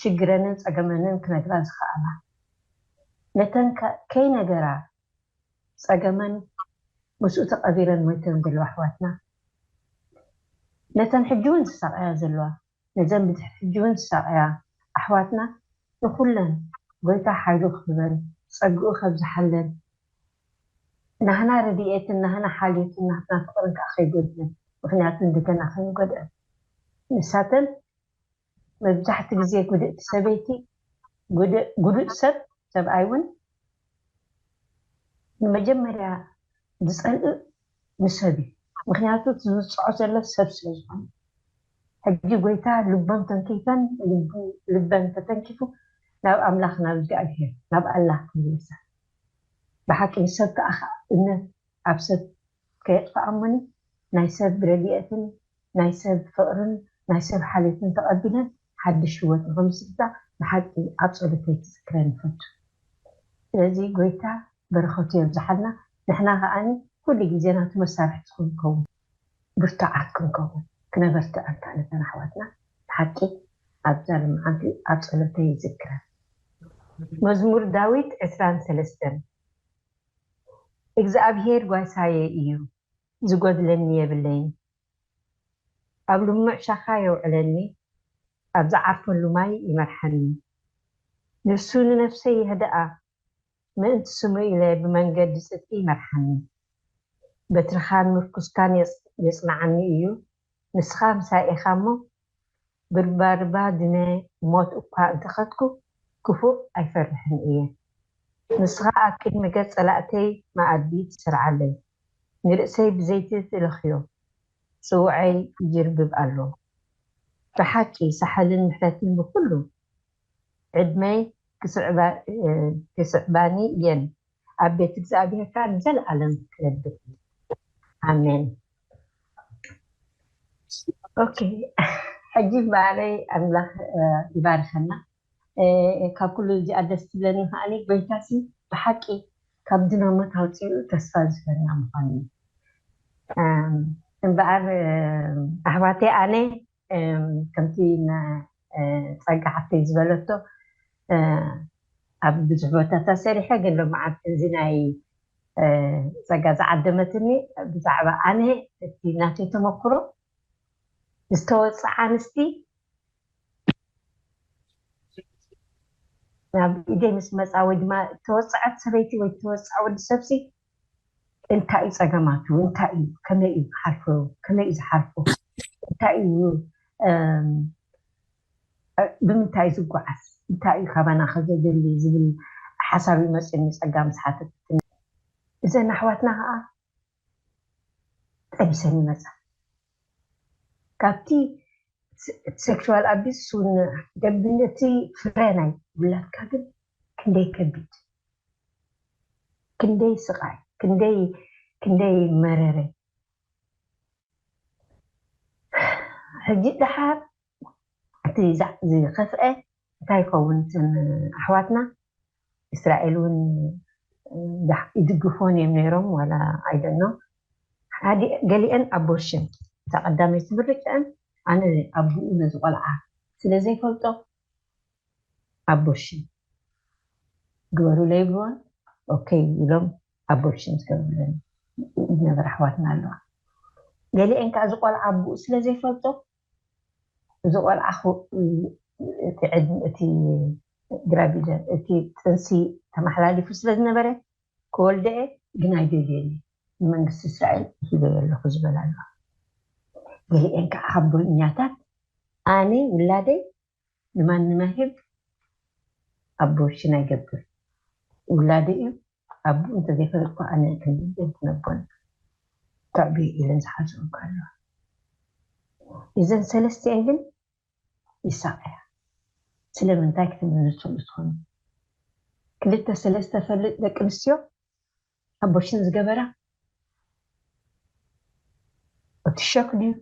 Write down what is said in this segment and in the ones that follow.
ሽግረንን ጸገመንን ክነግራ ዝኸኣላ። ነተን ከይነገራ ጸገመን ምስኡ ተቐቢረን ሞይተን ዘለዋ ኣሕዋትና፣ ነተን ሕጂ ውን ዝሳቐያ ዘለዋ፣ ነዘን ብድሕሪ ሕጂ ውን ዝሳቐያ ኣሕዋትና ንኹለን ጎይታ ሓይሉ ክህበን ጸግኡ ከብዝሓለን ናህና ረዲኤትን ናህና ሓልዮትን ናህትና ፍቕርን ከኣ ከይጎድለን ምኽንያቱ ንደገና ከይንጎድኣን ንሳተን መብዛሕቲ ግዜ ጉድእቲ ሰበይቲ ጉዱእ ሰብ ሰብኣይ ውን ንመጀመርያ ዝጸልእ ንሰብ እዩ ምክንያቱ እቲ ዝውጽዖ ዘሎ ሰብ ስለ ዝኮነ ሕጂ ጎይታ ልቦም ተንኪፈን ልበን ተተንኪፉ ናብ ኣምላክ ናብ እግዚኣብሄር ናብ ኣላህ ክምለሳ ብሓቂ ንሰብ ክኣ እምነት ኣብ ሰብ ከየጥፍኣሞን ናይ ሰብ ረዲኤትን ናይ ሰብ ፍቅርን ናይ ሰብ ሓልዮትን ተቀቢለን ሓድሽ ሂወት ንክምስርታ ብሓቂ ኣብ ጸሎተይ ክዝክረን ይፈቱ ስለዚ ጎይታ በረከቱ የብዝሓልና ንሕና ከኣ ኩሉ ግዜ ናቱ መሳርሕቲ ክንከውን ብርቱዓት ክንከውን ክነበርትዕ ኣንታ ነተን ኣሕዋትና ብሓቂ ኣብዛ ልምዓንቲ ኣብ ጸሎተይ ይዝክረን። መዝሙር ዳዊት ዕስራን ሰለስተን። እግዝኣብሄር ጓሳየ እዩ ዝጎድለኒ የብለይን ኣብ ልሙዕ ሻኻ የውዕለኒ ኣብ ዝዓርፈሉ ማይ ይመርሓኒ ንሱ ንነፍሰይ የህድኣ ምእንቲ ስሙ ኢለ ብመንገዲ ጽድቂ ይመርሓኒ በትርኻን ምርኩስካን የጽንዓኒ እዩ ንስኻ ምሳይ ኢኻ እሞ ብርባድባድመ ሞት እኳ እንተኸድኩ ክፉእ ኣይፈርሕን እየ። ንስኻ ኣብ ቅድሚ ገጽ ጸላእተይ መኣዲ ትሰርዓለይ፣ ንርእሰይ ብዘይቲ ትለኽዮ፣ ጽውዐይ ይጅርብብ ኣሎ። ብሓቂ ሳሕልን ምሕረትን ንኹሉ ዕድመይ ክስዕባኒ እየን ኣብ ቤት እግዚኣብሔር ከኣ ንዘለኣለም ክነብር እየ ኣሜን። ኦኬ ሕጂ እምበኣረይ ኣምላኽ ይባርኸና ካብ ኩሉ እዚኣ ደስ ትብለኒ ከኣ ጎይታሲ ብሓቂ ካብ ድነ ሞት ኣውጺኡ ተስፋ ዝህበና ምዃኑ እዩ እምበኣር ኣሕዋተይ ኣነ ከምቲ ጸጋ ሓፍተይ ዝበለቶ ኣብ ብዙሕ ቦታታት ሰሪሐ ግን ሎምዓንቲ እዚ ናይ ጸጋ ዝዓደመትኒ ብዛዕባ ኣነ እቲ ናተይ ተመክሮ ዝተወጽዓ ኣንስቲ ናብ ኢደይ ምስ መጻ ወይ ድማ እተወጽዐት ሰበይቲ ወይ እተወጽዐ ወዲ ሰብሲ እንታይ እዩ ፀገማቱ እንታይ እዩ ከመይ እዩ ክሓልፎ ከመይ እዩ ዝሓልፎ እንታይ እዩ ብምንታይ እዩ ዝጓዓዝ እንታይ እዩ ካባና ከዘድሊ ዝብል ሓሳብ እዩ መፅዩኒ ፀጋ ምስ ሓተትትኒ እዘን ኣሕዋትና ከዓ ጠቢሰን ይመፃ ካብቲ ሴክሹዋል ኣቢስ ሱን ደግነቲ ፍረ ናይ ውላድካ ግን ክንደይ ከቢድ ክንደይ ስቃይ ክንደይ ክንደይ መረረ ሕጂ ደሓር እቲ ዝከፍኤ እንታይ ይከውን እተን ኣሕዋትና እስራኤል ውን ይድግፍወን እዮም ነይሮም ዋላ ኣይ ዶንኖ ገሊኤን ኣቦርሽን እታ ቀዳመይቲ ምርጭኣን ኣነ ኣቡኡ ነዚ ቆልዓ ስለ ዘይፈልጦ ኣቦርሽን ግበሩለይ ይብልወን ኦከይ ኢሎም ኣቦርሽን ዝገብሩለን ዝነበራ ኣሕዋትና ኣለዋ ገሊኤን ከኣ እዚ ቆልዓ ኣቡኡ ስለ ዘይፈልጦ እዚ ቆልዓ እቲ ዕድመ እቲ ግራቪደ እቲ ጥንሲ ተማሓላሊፉ ስለ ዝነበረ ክወልደ'የ ግን ኣይደልዮን እየ ንመንግስቲ እስራኤል ሂበዮ ኣለኹ ዝበላ ኣለዋ ገሊኤን ከኣ ሓቦኛታት ኣነ ውላደይ ንማንም ኣይህብ ኣቦሽን ኣይገብር ውላደይ እዩ ኣቡኡ እንተዘይፈለጥኩ ኣነ ክንድንደይ ክነቦን ተዕብየ ኢለን ዝሓዝኦ እኳ ኣለዋ እዘን ሰለስቲኤን ግን ይሳቀያ ስለምንታይ ክትምልሱሉ ትኮኑ ክልተ ሰለስተ ፈልጥ ደቂ ኣንስትዮ ኣቦርሽን ዝገበራ እቲ ሸክ ድዩ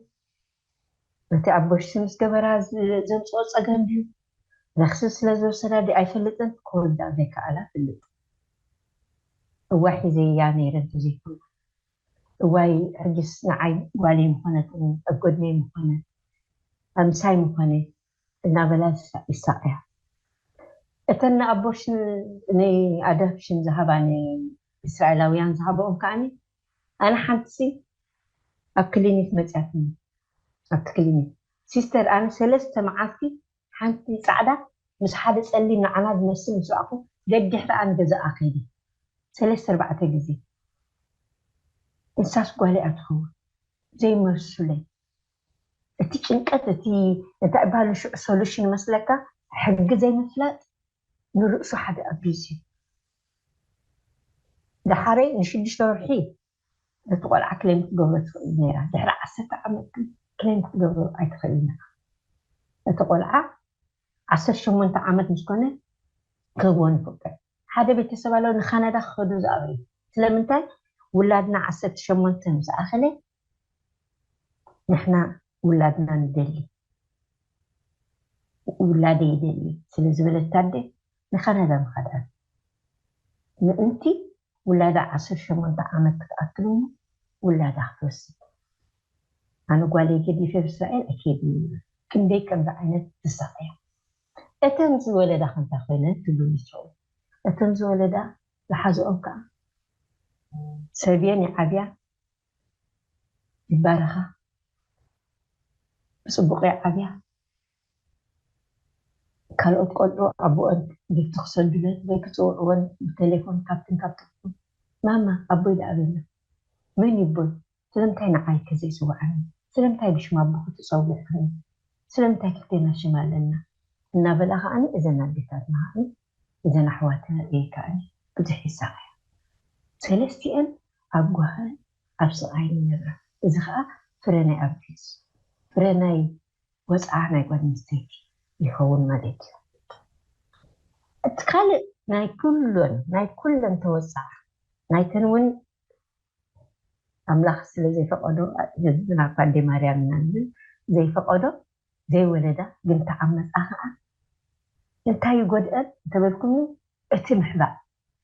ነቲ ኣቦርሽን ምስ ገበራ ዘምፅኦ ፀገም ድዩ ቫክሲን ስለ ዝወሰዳ ድዩ ኣይፈልጥን ክወልዳ ዘይከኣላ ፍልጥ እዋይ ሒዘያ ነይረ እንተዘይኮይኑ እዋይ ሕጅስ ንዓይ ጓለይ ምኾነትኒ ኣብ ጎድነይ ምኾነ ምሳይ ምኾነ እናበላ ይሳቐያ። እተን ንኣቦርሽን ንኣዳፕሽን ዝሃባ ንእስራኤላውያን ዝሃባኦም ከኣ ኣነ ሓንቲሲ ኣብ ክሊኒክ መጺኣትኒ። ኣብቲ ክሊኒክ ሲስተር ኣነ ሰለስተ መዓልቲ ሓንቲ ጻዕዳ ምስ ሓደ ጸሊም ንዓና ዝመስል ምስ ረኣኹ ደድሕረኣ ንገዛኣ ከይደ ሰለስተ ኣርባዕተ ግዜ። ንሳስ ጓለይ'ያ ትኸውን ዘይመልሱለይ። እቲ ጭንቀት እቲ እንታይ እባሉ ሽዑ solution ይመስለካ ሕጊ ዘይምፍላጥ ንርእሱ ሓደ abuse እዩ ደሓረይ ንሽዱሽተ ወርሒ ነቲ ቆልዓ ክሌም ክትገብሮ ትኽእል ኔራ ድሕሪ ዓሰርተ ዓመት ግን ክሌም ክትገብሮ ኣይትኽእልን ኢኻ እቲ ቆልዓ ዓሰርተ ሸሞንተ ዓመት ምስ ኮነ ክህብዎ ንፍቅድ ሓደ ቤተሰብ ኣሎ ንካናዳ ክኸዱ ዝኣብዩ ስለምንታይ ውላድና ዓሰርተ ሸሞንተ ምስ ኣኸለ ንሕና ውላድና ንደሊ ውላደይ ይደሊ ስለ ዝበለት ኣደ ንካናዳ ምኻዳ ምእንቲ ውላዳ ዓሰርተ ሸሞንተ ዓመት ክትኣክል እሞ ውላዳ ክትወስድ ኣነ ጓለይ ገዲፈ ኣብ እስራኤል ኣይከይድን ይብላ ክንደይ ከምዚ ዓይነት ዝሳቀያ እተን ዝወለዳ ከ እንታይ ኮይነን ትብሉ ንስኩም እተን ዝወለዳ ዝሓዘኦም ከኣ ሰብየን ይዓብያ ይባረኻ ብጽቡቕ ይዓብያ ካልኦት ቆልዑ ኣቦኦን ጊፍቲ ክሰዱለን ወይ ክጽውዕወን ብተሌፎን ካብትን ካብትን ማማ ኣቦይ ደኣ በላ መን ዩ ኣቦይ ስለምንታይ ንዓይ ከ ዘይጽውዓኒ ስለምንታይ ብሽም ኣቦኺ ትጸውዕኒ ስለምንታይ ክልቴና ሽም ኣለና እናበላ ከኣ እዘን ኣዴታትና ከኣ እዘን ኣሕዋትና ኢየን ከኣ ብዙሕ ይሳቐያ ሰለስቲኤን ኣብ ጓህን ኣብ ስቓይን ይነብራ። እዚ ኸኣ ፍረ ናይ ኣቢዩዝ፣ ፍረ ናይ ወጽዓ ናይ ጓል ኣንስተይቲ፣ ይኸውን ማለት እዩ። እቲ ካልእ ናይ ኩሎን ናይ ኩለን ተወጽዓ ናይተን እውን ኣምላኽ ስለ ዘይፈቐዶ፣ ህዝብና እኳ እንዴ ማርያም ኢና ንብል፣ ዘይፈቐዶ ዘይወለዳ ግን ተዓመጻ ከኣ እንታይ ይጎድኣን እንተበልኩምኒ እቲ ምሕባእ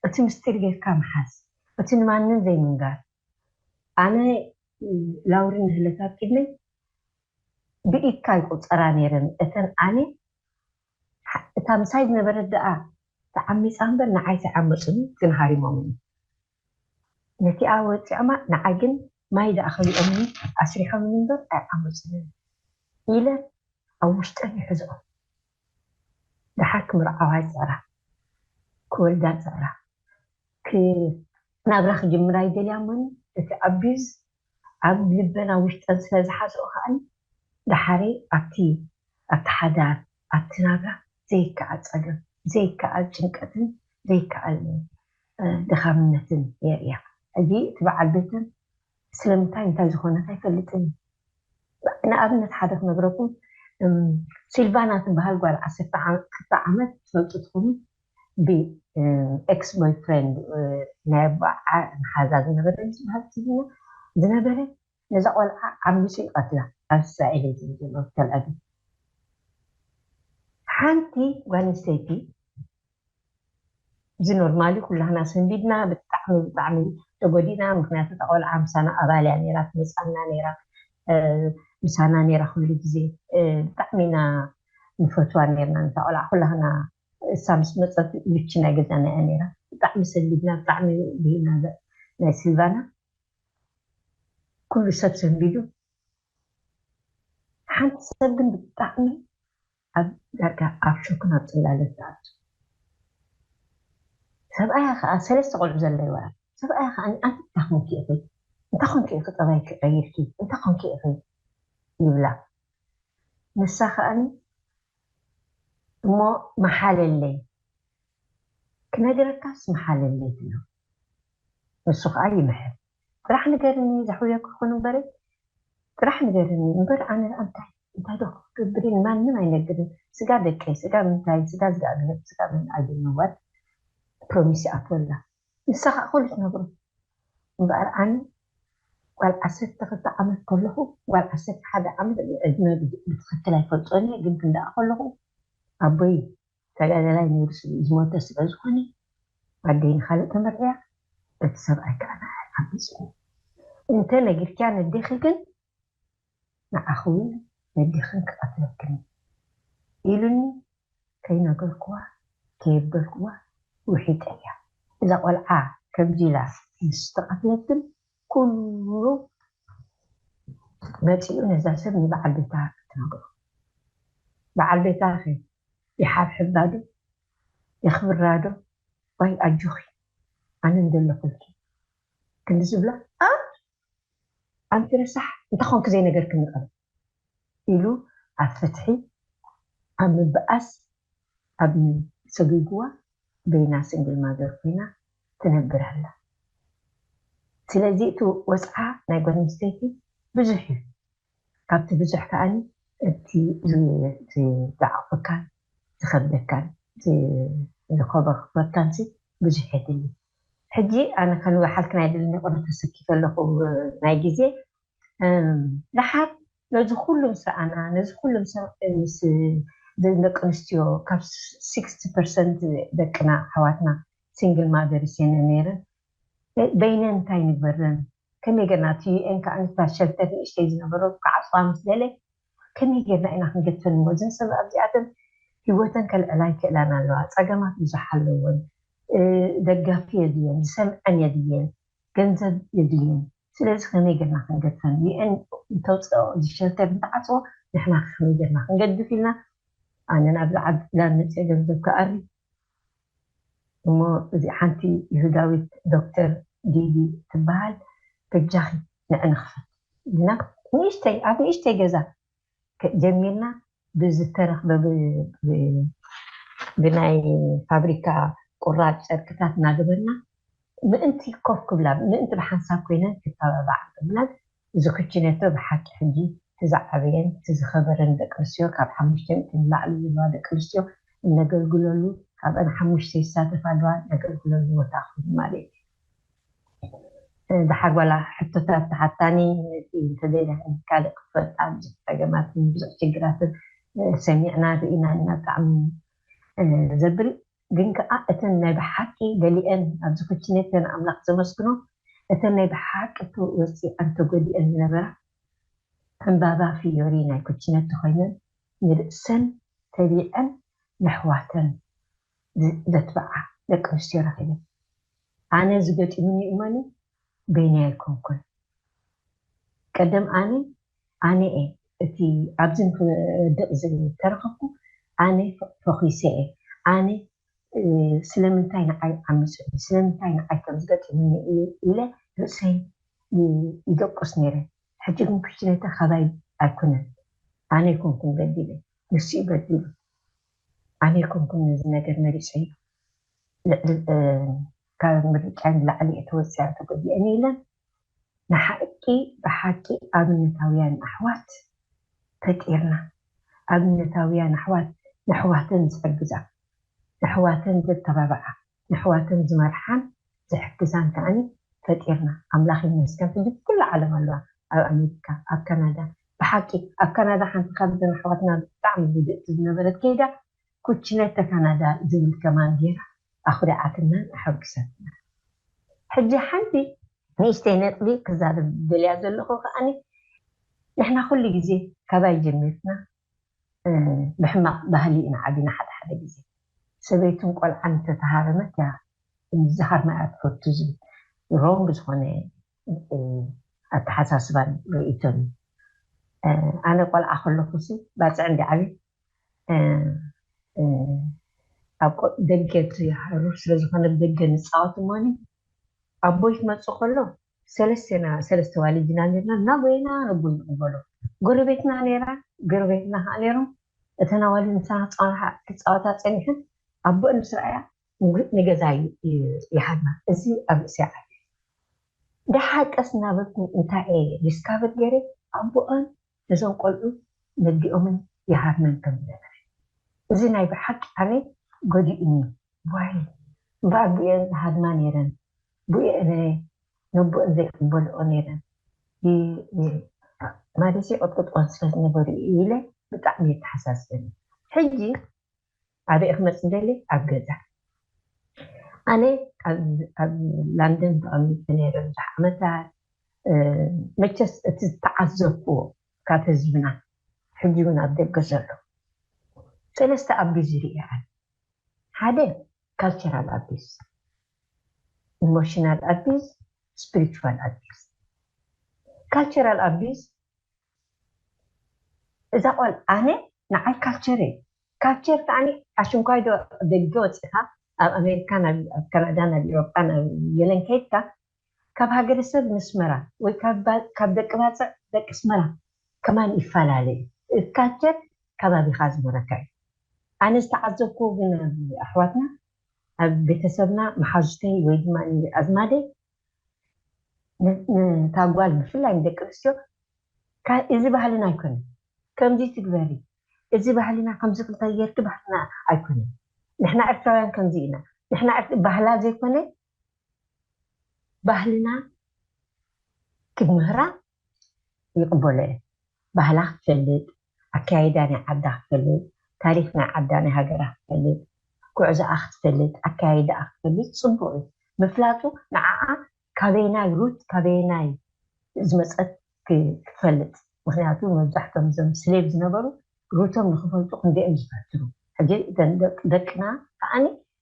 እቲ ምስጢር ጌርካ ምሓዝ እቲ ንማንም ዘይምንጋር ኣነ ላውሪ ንህለት ኣብ ቅድመይ ብኢድካ ይቁጸራ ኔረን እተን ኣነ እታ ምሳይ ዝነበረት ደኣ ተዓሚጻ እምበር ንዓይ ተይዓመጹኒ ግን ሃሪሞምኒ ነቲኣ ወጺዖማ ንዓይ ግን ማይ ደኣ ከሊኦምኒ ኣስሪሖምኒ እምበር ኣይዓመጹንን ኢለ ኣብ ውሽጠይ ይሕዝኦ ደሓር ክምርዓዋ ይጽዕራ ክወልዳ ይጽዕራ ክ ናብራ ክጅምራ ይደልያ እሞኒ እቲ ኣቢዩዝ ኣብ ልበን ኣብ ውሽጠን ስለ ዝሓዝኦ ከኣ ደሓር ኣብቲ ኣብቲ ሓዳር ኣብቲ ናብራ ዘይከኣል ጸገም፣ ዘይከኣል ጭንቀትን ዘይከኣል ድኻምነትን የርእያ። ሕጂ እቲ በዓል ቤተን ስለምንታይ እንታይ ዝኾነት ኣይፈልጥን እዩ። ንኣብነት ሓደ ክነግረኩም፣ ሲልቫና ትበሃል ጓል ዓሰርተ ክልተ ዓመት ትፈልጡ ትኹኑ ብኤክስ ቦይፍሬንድ ናይ ኣቦኣ መሓዛ ዝነበረ እዩ ዝበሃል ትብልና ዝነበረ ነዛ ቆልዓ ዓሚጹ ይቀትላ ኣብ እስራኤል እየ ዝብል ዘሎ ኣብ ተልኣቪቭ ሓንቲ ጓል ኣንስተይቲ እዚ ኖርማል እዩ ኩላህና ሰንቢድና ብጣዕሚ ብጣዕሚ ተጎዲእና ምክንያቱ እታ ቆልዓ ምሳና ኣባል እያ ነይራ ትመጽኣና ነይራ ምሳና ነይራ ኩሉ ግዜ ብጣዕሚ ኢና ንፈትዋ ነይርና ነታ ቆልዓ ኩላህና እሳ ምስ መጸት ብቺ ናይ ገዛና እያ ነይራ ብጣዕሚ ሰንቢድና ብጣዕሚ ብሂልና ናይ ስልቫና ኩሉ ሰብ ሰንቢዱ ሓንቲ ሰብ ግን ብጣዕሚ ኣብ ዳርጋ ኣብ ሾክን ኣብ ጽላለን ትኣቱ ሰብኣያ ከኣ ሰለስተ ቆልዑ ዘለዋ ሰብኣያ ከኣ ኣንቲ እንታይ ኮንኪ ኢኺ እንታይ ኮንኪ ኢኺ ጠባይኪ ቀይርኪ እንታይ ኮንኪ ኢኺ ይብላ ንሳ ከኣ እሞ መሓለለይ ክነግረካስ መሓለለይ ትብሎ። ንሱ ከኣ ይምህር ጥራሕ ንገርኒ ዘሕውዮ ክኹን እምበሪ ጥራሕ ንገርኒ እምበር ኣነ ደኣ እንታይ እንታይ ዶ ክገብር እየ ንማንም ኣይነግርን ስጋ ደቀይ ስጋ ምንታይ ስጋ ዝጋኣግሄር ስጋ መን ኣዩ ነዋል ፕሮሚስ ይኣትወላ ንሳ ከኣ ኩሉ ትነግሮ እምበኣር ኣነ ጓል ዓሰርተ ክልተ ዓመት ከለኹ ጓል ዓሰርተ ሓደ ዓመት ዕድመ ብትኽክል ኣይፈልጦን እየ ግን ክንደኣ ከለኹ ኣቦይ ተጋዳላይ ነብሪ ስቡእ ዝሞተ ስለ ዝኾነ ኣደይ ንኻልእ ተመርዕያ በቲ ሰብኣይ ከኣ ንዓይ ዓሚጽኒ እንተ ነጊርክያ ነዴኺ ግን ንዓኺ ውን ነዴኽን ክቐትለክን እዩ ኢሉኒ ከይነገርክዋ ከየበልክዋ ውሒጠያ እዛ ቆልዓ ከምዚ ኢላ ምስ ተቐትለት ግን ኩሉ መጺኡ ነዛ ሰብ ንበዓል ቤታ ክትነግሮ በዓል ቤታኺ ይሓብሕባ ዶ የኽብራ ዶ ዋይ ኣጆኺ ኣነ እንደለኹልኪ ክንዲ ዝብላ ኣንቲ ረሳሕ እንታይ ኮንኪ ዘይነገርክኒ ቀደም። ኢሉ ኣብ ፍትሒ ኣብ ምብኣስ ኣብ ም ሰጒጉዋ በይና ስንግል ማዘር ኮይና ትነብር ኣላ ስለዚ እቲ ወጽዓ ናይ ጓል ኣንስተይቲ ብዙሕ እዩ ካብቲ ብዙሕ ከኣ እቲ ዝዓቕፈካን ዝኸብደካን ዝኮበኮበካን ሲ ብዙሕ የድሊ ሕጂ ኣነ ከንብሓልክን ኣይደልን ይቕረታ ሰኪፈ ኣለኹ ናይ ግዜ ደሓር ነዚ ኩሉ ምስ ረኣና ነዚ ኩሉ ምስ ደቂ ኣንስትዮ ካብ ሲክስቲ ፐርሰንት ደቅና ኣሕዋትና ሲንግል ማዘርስ እየን ነይረን በይነን እንታይ ንግበረን ከመይ ጌርና እቲ UN ከኣ ነታ ሸልተር ንእሽተይ ዝነበሮም ክዓጽዋ ምስ ደለ ከመይ ጌርና ኢና ክንገድፈን እሞ እዘን ሰብ ኣብዚኣተን ህይወተን ከልዕላ ይክእላን ኣለዋ ጸገማት ብዙሕ ኣለወን ደጋፊ የድልየን ዝሰምዐን የድልየን ገንዘብ የድልየን ስለዚ ከመይ ገርና ክንገድፈን UN እንተውጸኦ እዚ ሸልተር እንተዓጽዎ ንሕና ከ ከመይ ገርና ክንገድፍ ኢልና ኣነ ናብዚ ዓዲ ዕላል መጽየ ገንዘብ ክኣሪ እሞ እዚ ሓንቲ ይሁዳዊት ዶክተር ዲዲ ትበሃል በጃኺ ንዕንክፈት ኢልና ንእሽተይ ኣብ ንእሽተይ ገዛ ጀሚርና ብዝተረኽበ ብናይ ፋብሪካ ቁራፅ ጨርቅታት እናገበርና ምእንቲ ኮፍ ክብላ ምእንቲ ብሓንሳብ ኮይነን ክተባብዓ ብምናት እዚ ኩቺኔቶ ብሓቂ ሕጂ እቲ ዝዓበየን እቲ ዝኸበረን ደቂ ኣንስትዮ ካብ ሓሙሽተ ሚእቲ ንላዕሊ ዘለዋ ደቂ ኣንስትዮ እነገልግለሉ ካብኣን ሓሙሽተ ይሳተፋ ኣለዋ እነገልግለሉ ቦታ ኮይኑ ማለት እዩ። ደሓር ዋላ ሕቶታት ተሓታኒ ነቲ እንተዘይዳ ሕጂ ካልእ ክትፈልጣ ብዙሕ ጸገማትን ብዙሕ ሽግራትን ሰሚዕናን ርኢናን ኢና ብጣዕሚ ዘብል ግን ከኣ እተን ናይ ብሓቂ ገሊኤን ኣብዚ ኩችኔት ገና ኣምላኽ ዘመስግኖ እተን ናይ ብሓቂ ወጺኣን ተጎዲኤን ዝነበራ ዕንባባ ፍዮሪ ናይ ኩችኔት ተኾይነን ንርእሰን ተቢዐን ነሕዋተን ዘትብዓ ደቂ ኣንስትዮ ረኺበ። ኣነ እዚ ገጢሙኒ እመኑ በይነይ ኣይኮንኩን። ቀደም ኣነ ኣነ'የ እቲ ኣብዚ ንኽወድቕ ዝተረኽብኩ፣ ኣነ ፈኺሰ'የ፣ ኣነ ስለምንታይ ንዓይ ዓሚጹኒ፣ ስለምንታይ ንዓይ ከምዚ ገጢሙኒ ኢለ ርእሰይ ይደቁስ ነይረ። ሕጂ ግን ኩሽትነታ ካባይ ኣይኮነን፣ ኣነ ኣይኮንኩን በዲለ ንሱ'ዩ በዲሉ። ኣነ ኣይኮንኩን ነዚ ነገር መሪጸዮ ልዕሊ ካብ ምርጫይ ንላዕሊ እየ ተወጺኣን ተጎዲኤን ኢለን ንሓቂ ብሓቂ ኣብነታውያን ኣሕዋት ፈጢርና ኣብነታውያን ኣሕዋት ነሕዋተን ዝሕግዛ ነሕዋተን ዘተባብዓ ነሕዋተን ዝመርሓን ዝሕግዛን ከኣ ፈጢርና ኣምላኽ ይመስገን ሕጂ ብኩሉ ዓለም ኣለዋ ኣብ ኣሜሪካ ኣብ ካናዳ ብሓቂ ኣብ ካናዳ ሓንቲ ካብዘን ኣሕዋትና ብጣዕሚ ህድእቲ ዝነበረት ከይዳ ኩችነተ ካናዳ ዝብል ከማን ጌራ ኣኹሪዓትናን ኣሐጉሳትናን ሕጂ ሓንቲ ንእሽተይ ነጥቢ ክዛረብ ዝደልያ ዘለኹ ከኣ ንሕና ኩሉ ግዜ ካባይ ጀሚርና ብሕማቅ ባህሊ ኢና ዓቢና ሓደ ሓደ ግዜ ሰበይትን ቆልዓን እንተ ተሃረመት እያ ምዝኻር ምኣያ ትፈቱ ዝብል ሮንግ ዝኾነ ኣተሓሳስባን ርእይቶን እዩ ኣነ ቆልዓ ከለኹሲ ባጽዕ እንዲ ዓብየ ኣብ ደገ እቲ ሃሩር ስለ ዝኾነ ብ ደገ ንጻወት እሞኒ ኣቦይ ክመጽእ ከሎ ሰለስቴና ሰለስተ ኣዋልድ ኢና ኔርና እናጎየና ንቡን ንቕበሎ ጎረቤትና ኔራ ጎረቤትና ከኣ ኔሮም እተን ኣዋልድ ምሳና ክጻወሓ ክጻወታ ጸኒሐን ኣቦኤን ምስ ረኣያ ንገዛይ ይሃብና እዚ ኣብ ርእሰይ ዓብዩ ዳሓር ቀስ እናበልኩ እንታየ ዲስካቨር ጌረ ኣቦኤን ነዞም ቆልዑ ነዲኦምን ይሃርመን ከም ዝነበረ እዚ ናይ ብሓቂ ኣነ ጎዲኡኒ ዋይ እምበኣር ቡኤን ዝሃርማ ነይረን ቡኤ እረ ነቡኤን ዘይቅበልኦ ነይረን ይ ማለት ይቅጥቅጥወን ስለ ዝነበሩ ኢዩ ኢለ ብጣዕሚ የተሓሳስበኒ ሕጂ ኣበይ እየ ክመጽእ ዝደሊ ኣብ ገዛ ኣነ ኣብ ላንደን ተቀሚጠ ነይረ ብዙሕ ዓመታት መቸስ እቲ ዝተዓዘብክዎ ካብ ህዝብና ሕጂ ውን ኣብ ደገ ዘሎ ሰለስተ ኣቢዝ ሪኤ ኣነ ሓደ ካልቸራል ኣቢዝ ኢሞሽናል ኣቢዝ ስፕሪቹዋል ኣቢዝ ካልቸራል ኣቢዝ እዛ ቆል ኣነ ንዓይ ካልቸር እየ ካልቸር ከኣ ኣሽንኳይ ዶ ኣብ ደገ ወጺካ ኣብ ኣሜሪካ ናብ ኣብ ካናዳ ናብ ኢሮጳ ናብ የለን ከይድካ ካብ ሃገረሰብ ነስመራ ወይ ካብ ደቂ ባጽዕ ደቂ ኣስመራ ከማን ይፋላለ እዩ እቲ ካልቸር ካባቢካ ዝመረካ እዩ ኣነ ዝተዓዘብክዎ ግን ኣብ ኣሕዋትና ኣብ ቤተሰብና መሓዙተይ ወይ ድማ ኣዝማደይ ነታ ጓል ብፍላይ ንደቂ ኣንስትዮ እዚ ባህልና ኣይኮነን ከምዚ ትግበሪ እዚ ባህልና ከምዚ ክንታይ ጌርኪ ባህልና ኣይኮነን ንሕና ኤርትራውያን ከምዚ ኢና ንሕና ባህላ ዘይኮነ ባህልና ክትምህራ ይቅበሎ እየ ባህላ ክትፈልጥ ኣከያይዳ ናይ ዓዳ ክትፈልጥ ታሪክ ናይ ዓዳ ናይ ሃገራ ክትፈልጥ ጉዕዞኣ ክትፈልጥ ኣከያይዳኣ ክትፈልጥ ጽቡቅ እዩ ምፍላጡ ንዓኣ ካበየናይ ሩት ካበየናይ ዝመጸት ክትፈልጥ ምክንያቱ መብዛሕቶም እዞም ስሌቭ ዝነበሩ ሩቶም ንክፈልጡ ክንደይ እዮም ዝፈትኑ ሕጂ እተን ደቅና ከኣ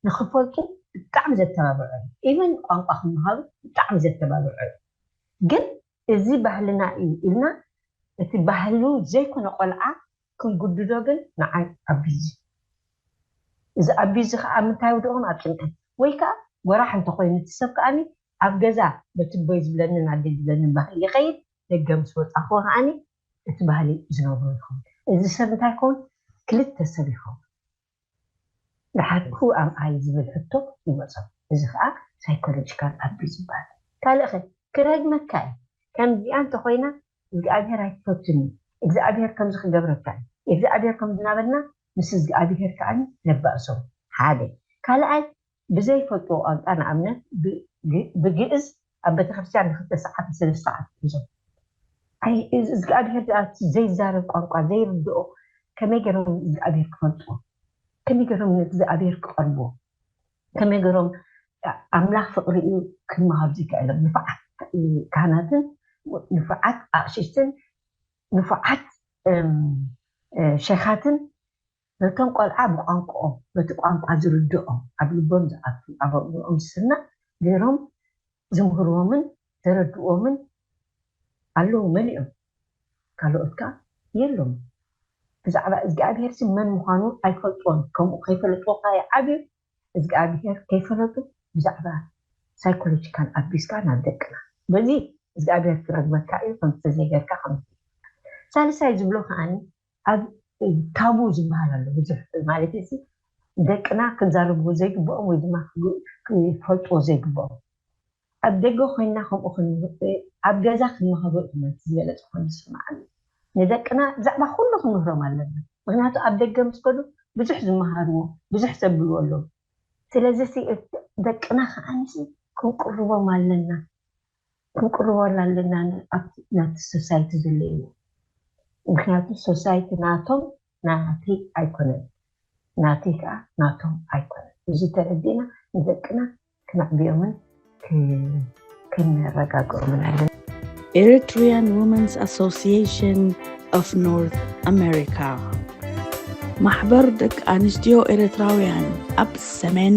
ንክፈልጡ ብጣዕሚ ዘተባብዖ እዩ ኢቨን ቋንቋ ክመሃሩ ብጣዕሚ ዘተባብዖ እዩ ግን እዚ ባህልና እዩ ኢልና እቲ ባህሉ ዘይኮነ ቆልዓ ክንጉድዶ ግን ንዓይ ኣቢዝ እዩ እዚ ኣቢዝ እዚ ከኣ ኣብ ምንታይ የውድቖም ኣብ ጭንቀት ወይ ከኣ ጎራሕ እንተኾይኑ እቲ ሰብ ከኣ ኣብ ገዛ በቲ ኣቦይ ዝብለንን ኣደይ ዝብለንን ባህሊ ይኸይድ ደገ ምስ ወጻኹ ከኣ እቲ ባህሊ ዝነብሩ ይኸውን እዚ ሰብ እንታይ ይኸውን ክልተ ሰብ ይኸውን ደሓር who am I ዝብል ሕቶ ይመጾም እዚ ከኣ ሳይኮሎጂካል ኣቢዩዝ ይበሃል። ካልእ ከ ክረግመካ እዩ ከምዚኣ እንተ ኮይና እዝግኣብሄር ኣይትፈቱን እዩ እግዝኣብሄር ከምዚ ክገብረካ እዩ የግዝኣብሄር ከምዚ እናበልና ምስ እዝግኣብሄር ከኣ ነባእሶ ሓደ ካልኣይ ብዘይፈልጥዎ ቋንቋ ንኣብነት ብግእዝ ኣብ ቤተክርስትያን ንክልተ ሰዓት ንሰለስተ ሰዓት ይሕዞም ኣይ እዝግኣብሄር ድኣ እቲ ዘይዛረብ ቋንቋ ዘይርድኦ ከመይ ገሮም እዝግኣብሄር ክፈልጥዎ ከመይ ገሮም ንእግዝኣብሄር ክቀርብዎ ከመይ ገሮም ኣምላኽ ፍቅሪ እዩ ክማሃሩ ዘይከእሎም ንፋዓት ካህናትን ንፋዓት ኣቅሽሽትን ንፋዓት ሸኻትን ነቶም ቆልዓ ብቋንቁኦም በቲ ቋንቋ ዝርድኦም ኣብ ልቦም ዝኣቱ ኣብ ኣእምርኦም ዝስናዕ ገይሮም ዝምህርዎምን ዘረድእዎምን ኣለዉ መሊኦም ካልኦት ከኣ የሎምን ብዛዕባ እዝግኣብሄርሲ መን ምዃኑ ኣይፈልጥዎን ከምኡ ከይፈለጥዎ ከኣ ይዓብዩ እዝግኣብሄር ከይፈለጡ ብዛዕባ ሳይኮሎጂካል ኣቢስካ ናብ ደቅና በዚ እዝግኣብሄር ክረግመካ እዩ ከምዚ ተዘይገርካ ከምዚ ሳልሳይ ዝብሎ ከኣ ኣብ ታቡ ዝብሃል ኣሎ ብዙሕ ማለተይሲ ደቅና ክዛረብዎ ዘይግብኦም ወይ ድማ ክፈልጥዎ ዘይግብኦም ኣብ ደገ ኮይንና ከምኡ ክንምህር ኣብ ገዛ ክንመክሮ ኢኩም እቲ ዝበለጸ ኮይኑ ዝስምዓኒ ንደቅና ብዛዕባ ኩሉ ክንምህሮም ኣለና ምክንያቱ ኣብ ደገ ምስ ከዱ ብዙሕ ዝምሃርዎ ብዙሕ ዘብልዎ ኣለዎም ስለዚሲ ደቅና ከኣኒሲ ክንቅርቦም ኣለና። ክንቅርበሉ ኣለና ን ኣብቲ ናቲ ሶሳይቲ ዘለይዎ ምክንያቱ ሶሳይቲ ናቶም ናተይ ኣይኮነን ናተይ ከኣ ናቶም ኣይኮነን እዚ ተረዲእና ንደቅና ክነዕብዮምን ከነረጋግኦምን ኣለና። Eritrean Women's Association of North America ማሕበር ደቂ ኣንስትዮ ኤርትራውያን ኣብ ሰሜን